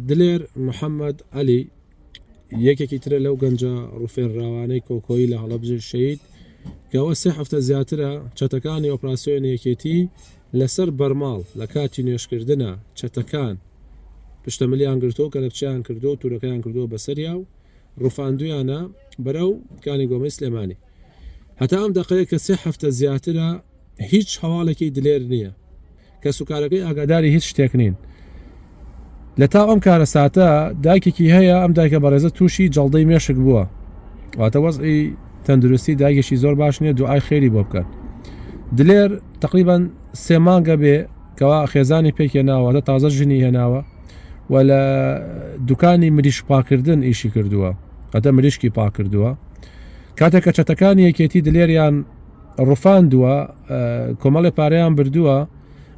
دلێر محەمەد عەلی یەکێکی ترە لەو گەنجە ڕوفێنراوانەی کۆکۆیی لە هەڵەبجە شەید کەەوە سێ هەفتە زیاترە چەتەکانی ئۆپراسسیۆن یەکێتی لەسەر بەرماڵ لە کاتی نوێشکردە چەتەکان پشتەمەلیان گرتۆ کە لەپچیان کردو و تورەکەیان کردووە بەسەریا و ڕفاندویانە بەرەو کانی گۆمەی سلێمانی هەتا ئەم دەقەیە کە سێ هەفتە زیاترە هیچ هەواڵێکی دلێر نییە. کەسوکارەکەی ئاگاداری هیچ شتێک نین. لە تاو ئەم کارەساتە دایکێکی هەیە، ئەم دایکە بەڕێزە تووشی جەڵدەی مێشک بووە. واتە وەزعی تەندروستی دایکێکی زۆر باش نییە، دوعای خێری بۆ بکەن. دلێر تەقریبەن سێ مانگە بێ کەوا خێزانی پێک هێناوە، واتە تازە ژنی هێناوە و لە دوکانی مریشک پاکردن ئیشی کردووە، واتە مریشکی پاک کردووە. کاتێک کە چەتەکانی یەکێتی دلێریان ڕفاندووە کۆمەڵێ پارەیان بردووە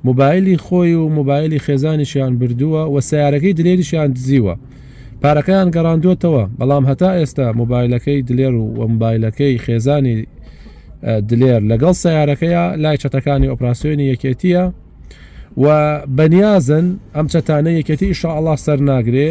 موبایلی خۆی و موبایلی خێزانیشیان بردووە و سیارەکەی دلێریشیان دزیوە پارەکەیان گەڕاندووەتەوە بەڵام هەتا ئێستا موبایلەکەی دلێر و وەمبایلەکەی خێزانی دلێر لەگەڵ سیارەکەیە لای چەتەکانی ئۆپراسسیۆنی یەکێتیە و بەنیازن ئەم چەتانە یەکێتی ئیشاءله سەرناگرێ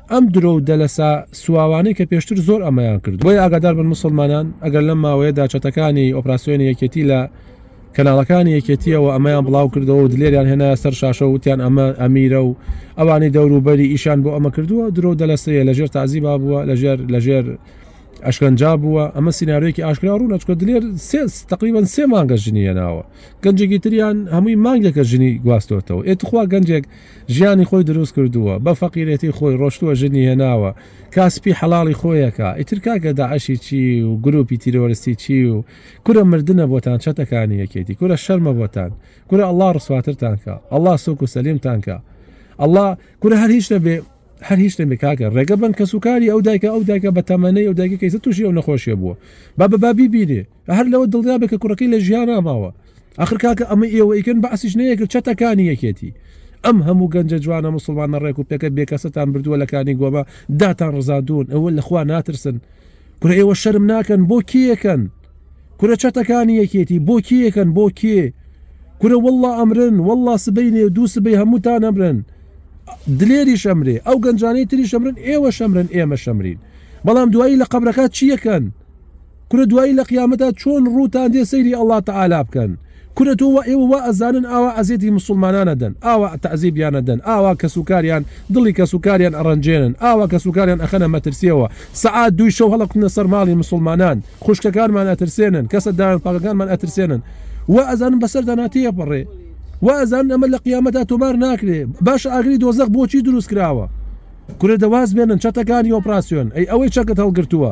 ئەم درۆ و دەلەسە سواوانەی کە پێشتر زۆر ئەمەیان کردووە. بۆیە ئاگادار بن موسڵمانان ئەگەر لەم ماوەیەدا چەتەکانی ئۆپراسیۆنی یەکێتی لە کەناڵەکانی یەکێتییەوە ئەمەیان بڵاو کردەوە و دلێریان هێنایە سەر شاشە و وتیان ئەمە ئەمیرە و ئەوانەی دەور و بەری ئیشیان بۆ ئەمە کردووە درۆ و دەلەسەیە لە ژێر تازیبا بووە لە ژێر لە ژێر ئەشکەنجا بووە ئەمە سینارێکی ئاشکرا ڕوو نەچکە دلێر سێس تقریبان سێ مانگە ژنی هێناوە گەنجێکی تریان هەمووی مانگێکە ژنی گواستۆتەوە ئێ تخوا گەنجێک ژیانی خۆی دروست کردووە بە فەقیرێتی خۆی ڕۆشتووە ژنی هێناوە کاسپی حەڵاڵی خۆیەکا ئیتر کاکە داعشی چی و گروپی تیرۆرستی چی و کورە مردنە بۆتان چەتەکانی یەکێتی کورە شەرمە بۆتان کورە ئەڵا ڕسواترتان کە ئەڵا سوک و سەلیمتان کە ئەڵا کورە هەر هیچ نەبێ هەر هیچ نەبێ کاکە ڕێگە بن کەسوکاری ئەو دایکە ئەو دایکە بە تەمەنەی ئەو دایکە کەیسە تووشی ئەو نەخۆشیە بووە بە بەبابی بینێ هەر لەوە دڵنیا بێ کە کوڕەکەی لە ژیانا ماوە ئەخر کاکە ئەمە ئێوە ئیکن بەعسیش نەیەکرد چەتەکانی یەکێتی ئەم هەموو گەنجە جوانە مسلمان نەڕێک و پێکە بێکەسەتان بردووە لەکانی گۆمە داتان ڕزادون ئەوە لەخوا ناترسن کورە ئێوە شەرم ناکەن بۆ کیەکەن کورە چەتەکانی یەکێتی بۆ کیەکەن بۆ کێ کورە والله ئەمرن والله سبەی نێ دوو سبەی هەمووتان ئەمرن دلێری شەمرێ ئەو گەنجانەی تری شەمرن ئێوە شەمرن ئێمە شەمرین بەڵام دوایی لە قبرەکە چیەکەن کورە دوایی لە قیامەتا چۆن ڕووتان دێ سەیری اللە تعالی بکەن کورە تۆ وا ئێوە وا ئەزانن ئاوا ئەزێتی مسوڵمانان ئەدەن ئاوا تەعزیبیان ئەدەن ئاوا کەس و کاریان دڵی کەس و کاریان ئەڕەنجێنن ئاوا کەس و کاریان ئەخەنە مەترسیەوە سەعات دووی شەو هەڵەکوتنە سەر ماڵی مسوڵمانان خوشکەکانمان ئەترسێنن کەسە دایان پاکەکانمان ئەترسێنن وا ئەزانن بەسەردا ناتێپەڕێ وا ئەزانن ئەمە لە قیامەتا تۆمار ناکرێ باش ئاگری دۆزەق بۆچی دروست کراوە کورە دەواز بێنن چەتەکانی ئۆپراسیۆن ئەی ئەوەی چەکت هەڵگرتووە